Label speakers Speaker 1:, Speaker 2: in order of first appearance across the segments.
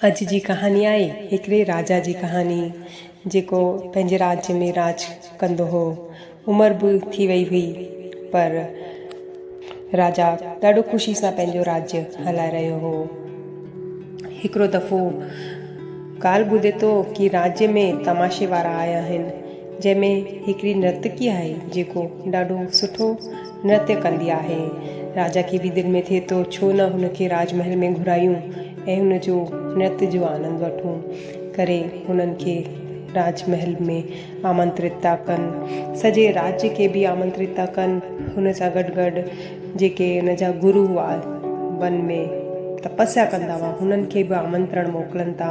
Speaker 1: اڄ جي ڪهاڻي آهي هڪڙي راجا جي ڪهاڻي جيڪو پنهنجي راڄ ۾ راڄ ڪندو هو عمر به ٿي وئي هئي پر راجا ڏاڍو خوشي سان پنهنجو راڄ هلائي رهيو هو هڪڙو دفعو ڳالهه ٻڌي ٿو ڪي راڄ ۾ تماشي وارا آيا آهن جنهن ۾ هڪڙي نرتڪي آهي جيڪو ڏاڍو سٺو نرتيه ڪندي آهي. راجا کي به دل ۾ ٿئي ٿو ڇو نه هن کي راج محل ۾ گهرايون ۽ هن جو نرت جو آنند وٺون. ڪري هنن کي راج محل ۾ آمنترت ٿا ڪن. سڄي راجيه کي به آمنترت ٿا ڪن. هن سان گڏ گڏ جيڪي هن جا گرو هئا ون ۾ تپسيا ڪندا هئا هنن کي به آمنترڻ موڪلن ٿا.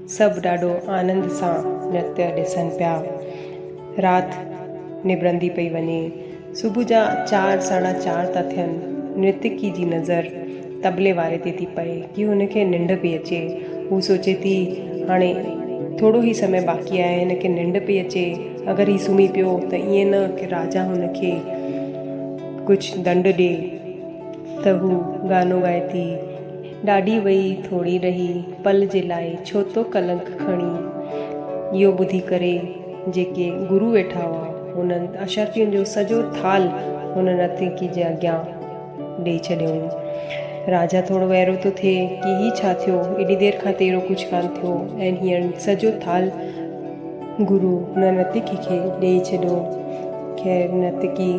Speaker 1: سڀ ڏاڍو آنند سان نرتيء ڏسن پيا. رات نبرندي پئي وڃي. صبح جا چار ساڍا چار ٿا ٿين. نرتڪي جي نظر طبلي واري تي ٿي پئي ڪي هن کي ننڊ پئي اچي. هو سوچي ٿي هاڻي ٿورو ئي سمي باقي آهي هن کي ننڊ پئي اچي. اگر هي سمهي پيو ته ائين نه ڪي راجا هن کي ڪجهه ڏنڊ ڏي ته هو گانو ڳائي ٿي. ڏاڍي وئي ٿوڙي ڏهي پل جي لاء ڇو ٿو ڪلنڪ کڻين؟ اهو ٻڌي ڪري جيڪي گرو ويٺا هئا انهن اشرفين جو سڄو ٿالهه هن نرتڪي جي اڳيان ڏئي ڇڏيائون. راجا ٿوڙو وئرو ٿو ٿئي ڪي هي ڇا ٿيو ايڏي دير کان تيرو ڪجهه ڪانه ٿيو ۽ هينئر سڄو ٿالهه گرو، نه نرتڪي کي ڏيئي ڇڏو. خير نرتڪي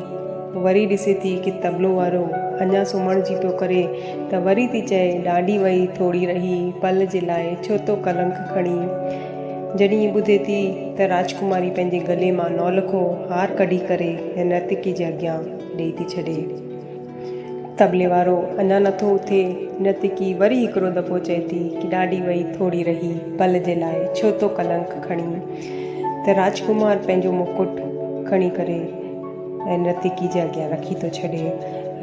Speaker 1: وري ڏسي ٿي ڪي طبلو وارو اڃا سمهڻ جي پيو ڪري ته وري ٿي چئي ڏانڊي وئي ٿوڙي رهي پل جي لاء ڇو تو ڪلنڪ کڻين. جڏهن هي ٻڌي ٿي ته راجڪماري پنهنجي ڳلي مان نولکو هار ڪڍي ڪري ۽ نرتڪي جي اڳيان ڏيئي ٿي ڇڏي. طبلي وارو اڃا نٿو اٿي، نرتڪي وري هڪڙو دفعو چئي ٿي ڪي ڏاڍي وئي ٿوري رهي، پل جي لاء ڇو ٿو ڪلنڪ کڻين؟ ته راجڪمار پنهنجو مڪٽ کڻي ڪري ۽ نرتڪي جي اڳيان رکي ٿو ڇڏي.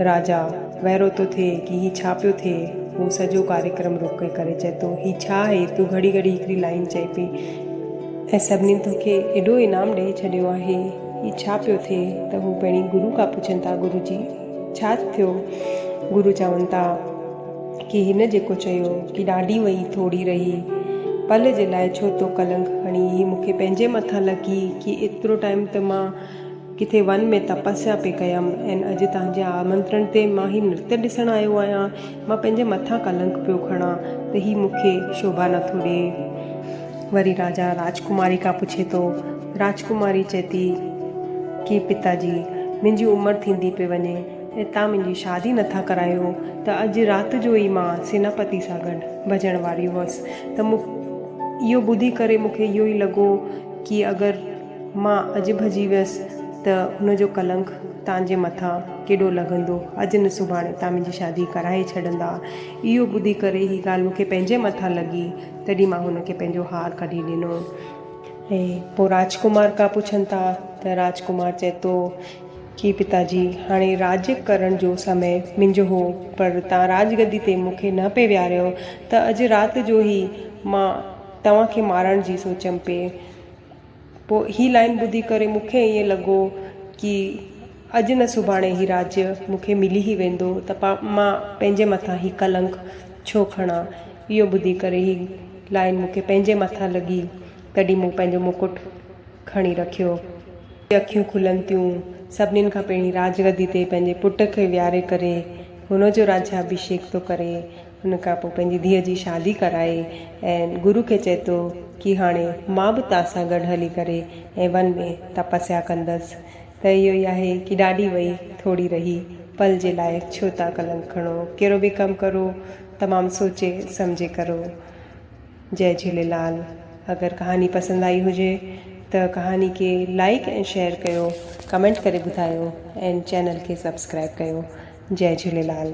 Speaker 1: راجا وئرو ٿو ٿئي ڪي هي ڇا پيو ٿئي، هو سڄو ڪاريڪرم روڪي ڪري چئي ٿو هي ڇا آهي، تون گهڙي گهڙي هڪڙي لائين چئي پئي ۽ سڀني توکي ايڏو انعام ڏئي ڇڏيو آهي. هي ڇا پيو ٿئي ته هو پهرين گرو کان پڇن ٿا گرو جي ڇا ٿيو گرو چون ٿا ڪي هن جيڪو چيو ڪي ڏاڍي وئي ٿوري رهي پل جي لاء ڇو تو ڪلنڪ کڻي هي مون کي پنهنجي مٿان لڳي ڪي ايترو ٽائيم ته مان ڪٿي ون ۾ تپسيا پي ڪيم ۽ اڄ تنهنجي آمنترڻ تي مان هي نرتي ڏسڻ آيو آهيان مان پنهنجي مٿان ڪلنڪ پيو کڻان ته هي مون کي شوڀا نٿو ڏئي. وري راجا راجڪماري کان پڇي ٿو. راجڪماري چئي ٿي ڪي پتا جي! منهنجي عمر ٿيندي پئي وڃي ۽ تان منهنجي شادي نٿا ڪرايو ته اڄ رات جو ئي مان سيناپتي سان گڏ ڀڄڻ واري هئس ته اهو ٻڌي ڪري مون کي اهو ئي لڳو ڪي اگر مان اڄ ڀڄي ويس ته ان جو ڪلنڪ تان جي مٿان ڪيڏو لڳندو. اڄ نه سڀاڻي تان منهنجي شادي ڪرائي ڇڏندا. اهو ٻڌي ڪري هي ڳالهه مون کي پنهنجي مٿان لڳي، تڏهن مان هن کي پنهنجو هار ڪڍي ڏنو. ۽ پوء راجڪمار ڪا پڇن ٿا ته راجڪمار چئي ٿو ڪي پتا جي هاڻي راڄ ڪرڻ جو سمي منهنجو هو پر تان راڄ گدي تي مون کي نه پئي ويهاريو ته اڄ رات جو هي مان توهان کي مارڻ جي سوچيم پئي. پوء هي لائين ٻڌي ڪري مون کي ائين لڳو ڪي اڄ نه سڀاڻي هي راڄ مون کي ملي ئي ويندو ته پا مان پنهنجي مٿان هي ڪلنڪ ڇو کڻان. اهو ٻڌي ڪري هي لائين مون کي پنهنجي مٿان لڳي تڏهن مون پنهنجو مڪٽ کڻي رکيو. جي اکيون کلن ٿيون سڀني کان پهرين راڄ گدي تي پنهنجي پٽ کي ويهاري ڪري هن جو راجيابشيڪ ٿو ڪري. ان کان پوء پنهنجي ڌيء جي شادي ڪرائي ۽ گرو کي چئي ٿو ڪي هاڻي مان به توهان سان گڏ هلي ڪري ۽ ون ۾ تپسيا ڪندس ته اهو ئي آهي ڪي ڏاڏي وئي ٿوري رهي پل جي لاء ڇو ٿا ڪلنڪ کڻو ڪهڙو به ڪم ڪرو تمام سوچي سمجهي ڪرو. جئ جھيليلال اگر ڪهاڻي پسند آئي هجي ته ڪهاڻي کي لائيڪ ۽ شيئر ڪيو ڪمينٽ ڪري ٻڌايو ۽ چينل کي سبسڪرائيب ڪيو جئ جھيليلال.